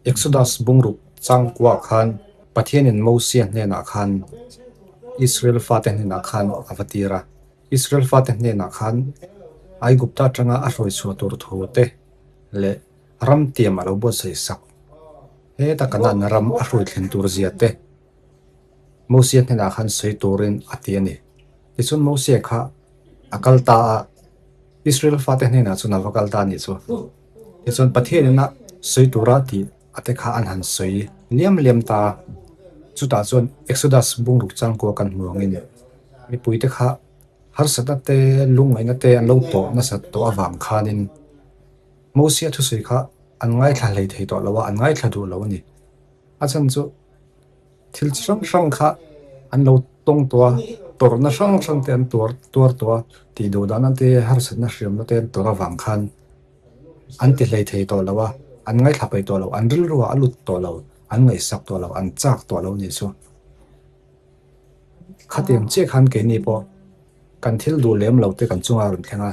Exodus bungruk changkuah khan Pathianin Moses hnenah khan Israel fate hnenah khan a va tir a. Israel fate hnenah khan Aigupta atanga a hruai chhuah tur thu te leh ram tiam a lo buatsaih sak. Heta Canaan ram a hruai thlen tur zia te Moses hnenah khan sawi turin a ti a ni. Tichuan Moses kha a kal ta a, Israel fate hnenah chuan a va kal ta a ni chu. Tichuan Pathian in a sawi tura tih ate kha an han sawi liam liam ta a. Chutah chuan Exodus bungruk changkua kan hmu angin mipui te kha harsatna te lungngaihna te an lo tawh nasat tawh avang khanin Mosea thusawi kha an ngaithla hlei thei tawh lo a, an ngaithla duh lo a ni. A chhan chu. thil chi hrang hrang kha an lo tawng tawh a, tawrhna hrang hrang te an tuar tuar tawh a, tih duh dahna te harsatna hriamna te an tawrh avang khan an ti hlei thei tawh lo a, an ngaithla paih tawh lo, an rilruah a lut tawh lo, an ngaihsak tawh lo, an chak tawh lo nih chu. Khatiang chiah khan keini pawh kan thil duh lem lo te kan chunga rawn thleng a.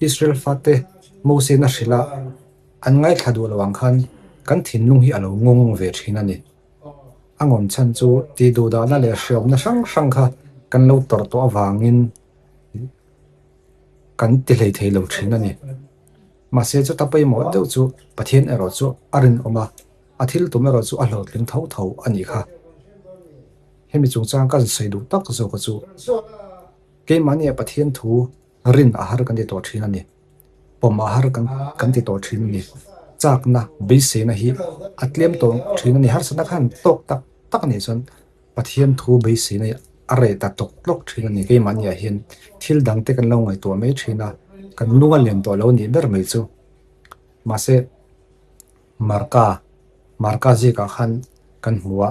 Israel fate Mosena hrilha an ngaithla duh lo ang khan kan thinlung hi a lo ngawng ve thin a ni. A ngawm chhan chu tih duh dahna leh hreawmna hrang hrang kha kan lo tawrh tawh avangin kan ti hleithei lo thin a ni. Mahse chuta pawimawh deuh chu Pathian erawh chu a rinawm a, a thil tum erawh chu a hlawhtling tho tho a ni kha. Hemi chungchang kan sawi duh tak zawk chu keimahni a Pathian thu, Rin a har kan ti tawh thin a ni. Pawm a har kan ti tawh thin a ni. Chakna, beiseina hi a tlem tawh thin a ni. Harsa na khan tawk tak tak a nih chuan Pathian thu beiseina hi a reh ta tawk tawk thin a ni. Keimahni ah hian thil dang te kan lo ngaihtuah mai thin a, kan nunga liam tawh lo nih ber mai chu. Mahse. Marka, marka zikah khan kan hmu a,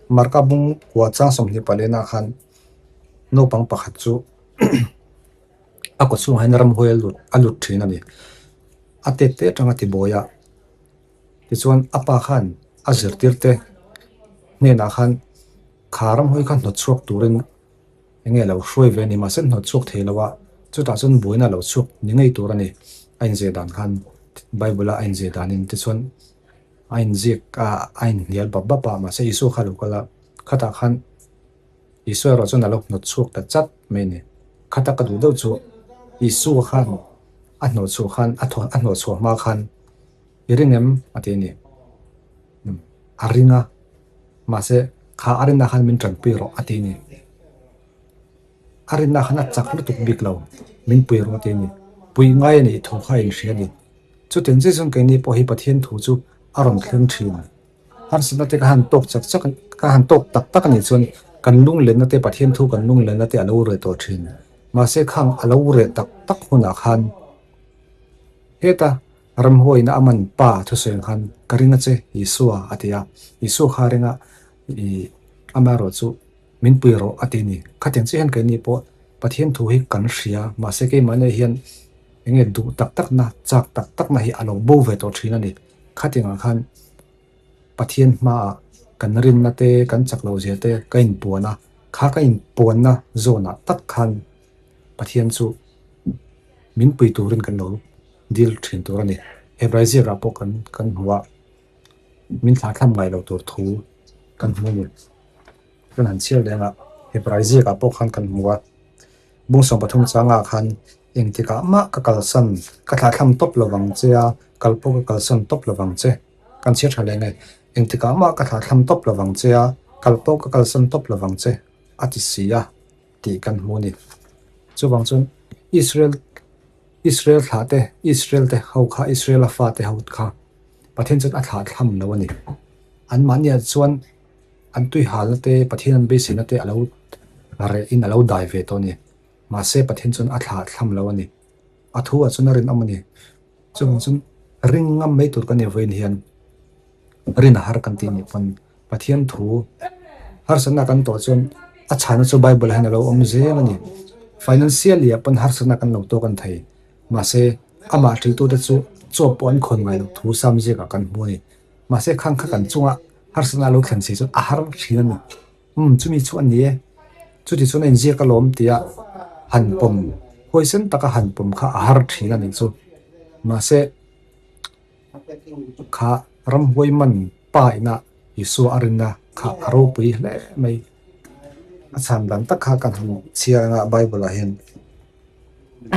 marka bung huachang sawmhnih pah lehnah khan naupang pakhat chu a kut chhungah hian ramhuai a lut a lut thin a ni. A tet te atang a tibuai a, tichuan a pa khan a zirtirte hnenah khan kha ramhuai kha hnawt chhuak turin-- Enge lo hruai ve ni mahse hnawt chhuak thei lo a, chutah chuan buaina lo chhuak ni ngei tur a ni. A inziak dan khan Bible-a a inziak danin te chuan a inziak a, a inhnial bap bap a, mahse Isua kha a lo kal a. Khatah khan Isua erawh chuan a lo hnawt chhuak ta chat mai a ni. Kha tak a duh deuh chu Isua khan a hnawt chhuah khan, a hnawt chhuah hma khan, I ring em? a ti a ni. Hm, a ring a, mahse, kha a rinah khan min tanpui rawh, a ti a ni. A rinah khan a chak lutuk bik lo, min pui rawh, a ti a ni. Pui ngai a nih thu kha a inhria a ni. Chutin zui zawng keini pawh hi Pathian thu chu a rawn thleng thin. Harsatna te ka han tawk chak chak, ka han tawk tak tak a nih chuan kan lunglenna te, Pathian thu kan lunglenna te a lo reh tawh thin. Mahse khang a lo reh tak tak hunah khan, heta Ramhuaina aman pa thusawi khan ka ring a che Isua a ti a, Isu kha renga i ama erawh chu min pui rawh a ti a ni. Khatin chiah hian keini pawh Pathian thu hi kan hria, mahse keimah nei hian enge duh tak takna, chak tak takna hi a lo bo ve tawh thin a ni. Khatingah khan Pathian hmaah kan rinna te, kan chak lo zia te ka inpuan a, kha ka inpuanna zawnah tak khan Pathian chu min pui turin kan lo dil thin tur a ni. Hebrei ziakah pawh kan kan hmu a, min thla thlam ngai lo tur thu kan hmu a ni. Kan han chhiar leh angah Hebrei ziakah pawh khan kan hmu a. Musawn pathum changah khan eng tikah mah ka kalsan, ka thla thlam tawp lo vang che a, kal pawh ka kalsan tawp lo vang che. Kan chhiar tha leh nge, eng tikah mah ka thla thlam tawp lo vang che a, kal pawh ka kalsan tawp lo vang che a ti si a. tih kan hmu a ni. Chuvang chuan Israel, Israel thlah te, Israel te ho kha, Israel a fate ho kha Pathian chuan a thlah thlam lo a ni. Anmahnia chuan an tuihalna te, Pathian an beisirna te a lo reh in a lo dai ve tawh a ni. Mahse Pathian chuan a thlah thlam lo a ni. A thu ah chuan a rinawm a ni. Chuvang chuan ring ngam mai tur ka nei vawiin hian rinahar kan tih ni pawn Pathian thu harsatna kan tawh chuan a chhana chu Bible ah hian a lo awm zel a ni. Financially ah pawn harsatna kan lo tawk a ni thei. Mahse, amah ṭiltute chu chawp pawh an khawn ngai lo thu sam ziakah kan hmu a ni. Mahse, khang kha kan chungah harsatna lo thlen si chuan a har ṭhin a ni. Umm, chumi chu a ni e. Chuti chuan a inziak a lawm tia han pawm huai sen taka han pawm kha a har thin a nih chu. Mahse, kha ramhuai man pa inah Isua a rinna kha a ropui hle mai. A chhan dan tak kha kan han chhiar anga Bible-ah hian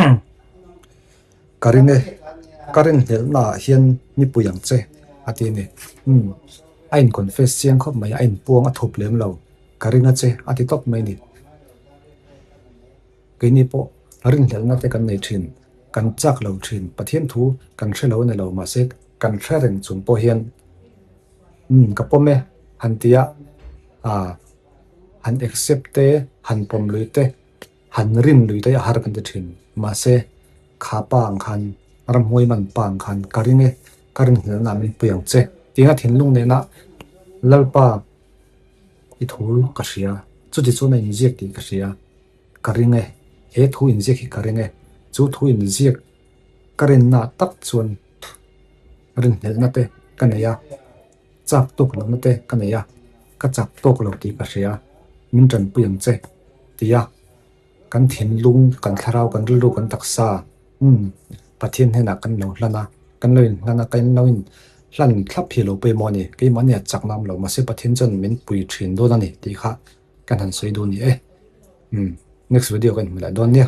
umm. Ka ring e, ka ring hnelh naah hian nipui ang che, a ti a ni. Umm, a in confess chiang khawp mai a, a inpuang a thup lem lo. Ka ring a che, a ti tawp mai a ni. Keini pawh ring hnelh na te kan nei thin, kan chak lo thin, Pathian thu kan hre lo ni lo mah se, kan hre reng chung pawh hian, umm, ka pawm e, han ti a, ahh, han accept te, han pawm lui te. Han rin lui daih a har kan ti thin. Mahse, kha pa ang khan, ramhuai man pa ang khan, ka ring e, ka rinhlel na min pui ang che, tiin a thinlung nena Lalpa i thu ka hria, chuti chuan a inziak tih ka hria, ka ring e, he thu inziak hi ka ring e, chu thu inziak ka rinna tak chuan rinhlelhna te ka nei a. Chak tawk lo nate ka nei a, ka chak tawk lo tih ka hria, min tanpui ang che, ti a. Kan thinlung, kan thlarau, kan rilru kan taksa hun Pathian hnenah kan lo hlan a, kan lo inhlan a, kan lo inhlan thlap hi lo pawimawh a ni. Keimahni a chakna awm lo, mahse Pathian chuan min pui thin dawn a ni tih kha kan han sawi dun ni e. Next video kan hmu leh dawn nia.